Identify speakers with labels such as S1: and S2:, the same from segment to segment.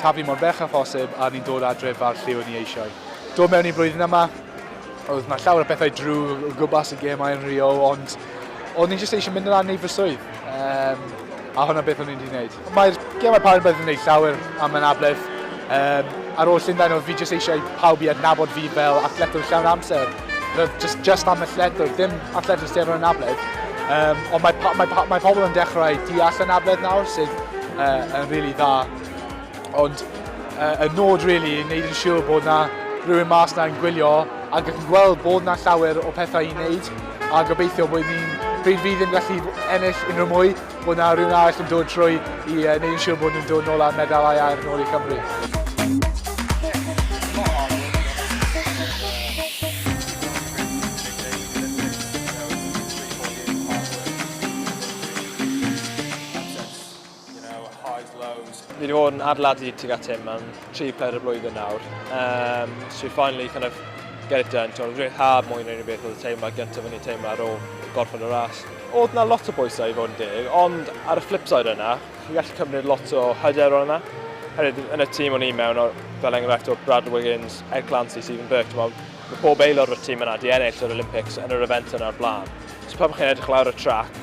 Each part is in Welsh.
S1: Taflu mor bell â phosib a ni'n dod adref fel lle o'n ni eisiau dod mewn i'r flwyddyn yma. Oedd na llawer o bethau drwg o gwmpas y gemau yn Rio, ond o'n ni jyst eisiau mynd yna a wneud fy swydd. Um, a hwnna beth o'n i'n wedi gwneud. Mae'r gemau parod bydd yn gwneud llawer am anabledd. Um, ar ôl Llundain oedd fi jyst eisiau pawb i adnabod fi fel athletwr llawn amser. Roedd just, just am y lledwr, dim at lledwr sydd yr anabledd. Um, ond mae, mae, mae, mae pobl yn dechrau deall anabledd nawr sydd uh, yn rili really dda. Ond uh, y nod rili really, yn neud yn siŵr bod na rhywun mas na'n gwylio ac yn gweld bod na llawer o pethau i wneud a gobeithio bod ni'n pryd fi ddim gallu ennill unrhyw mwy Bod 'na rhywun arall yn dod trwy i uh, neud yn siŵr bod nhw'n dod nôl â'r medalau air nôl i Cymru.
S2: Fi wedi bod yn adeiladu tuag at hyn am tri peder o blwyddyn nawr. Um, so we finally kind of get it done. Ti'n rhyddhad mwy na unrhyw beth oedd y teimlad gyntaf o'n i'n teimlo ar ôl gorffen y ras. Oedd na lot o bwysau i fod yn deg, ond ar y flip side yna, chi'n gallu cymryd lot o hyder o'n yna. Hefyd, yn y tîm o'n i'n mewn, fel enghraifft o Brad Wiggins, Ed Clancy, Stephen Burke, ti'n meddwl, mae pob aelod o'r tîm yna di ennill yr Olympics yn yr event yna'r blaen. So pan chi'n edrych lawr y trac,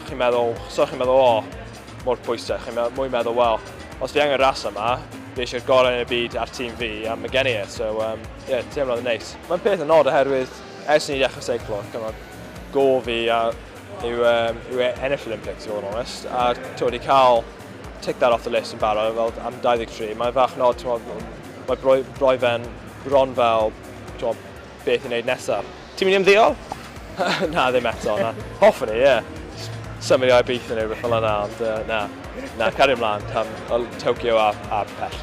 S2: chi'n meddwl, so chi'n meddwl, o, oh, mor pwysau, chi'n mwy meddwl, wel, os fi angen ras yma, fi eisiau'r gorau yn y byd a'r tîm fi, a mae gen i e, so, um, yeah, teimlodd yn neis. Mae'n peth yn nod oherwydd ers ni ddechrau seiclo, cymryd go fi a yw, um, yw e ennill Olympics, i fod yn onest, a to, wedi cael tick that off the list yn barod fel am 23, mae'n fach nod, mae broi, broi fe'n bron fel to, beth i wneud nesaf. Ti'n mynd i ymddeol? na, ddim eto, na. Hoffwn i, ie. Yeah. Symud i Aberystwyth neu rhywbeth fel yna, ond uh, na. Na, cario ymlaen, tam, Tokyo a, a pell.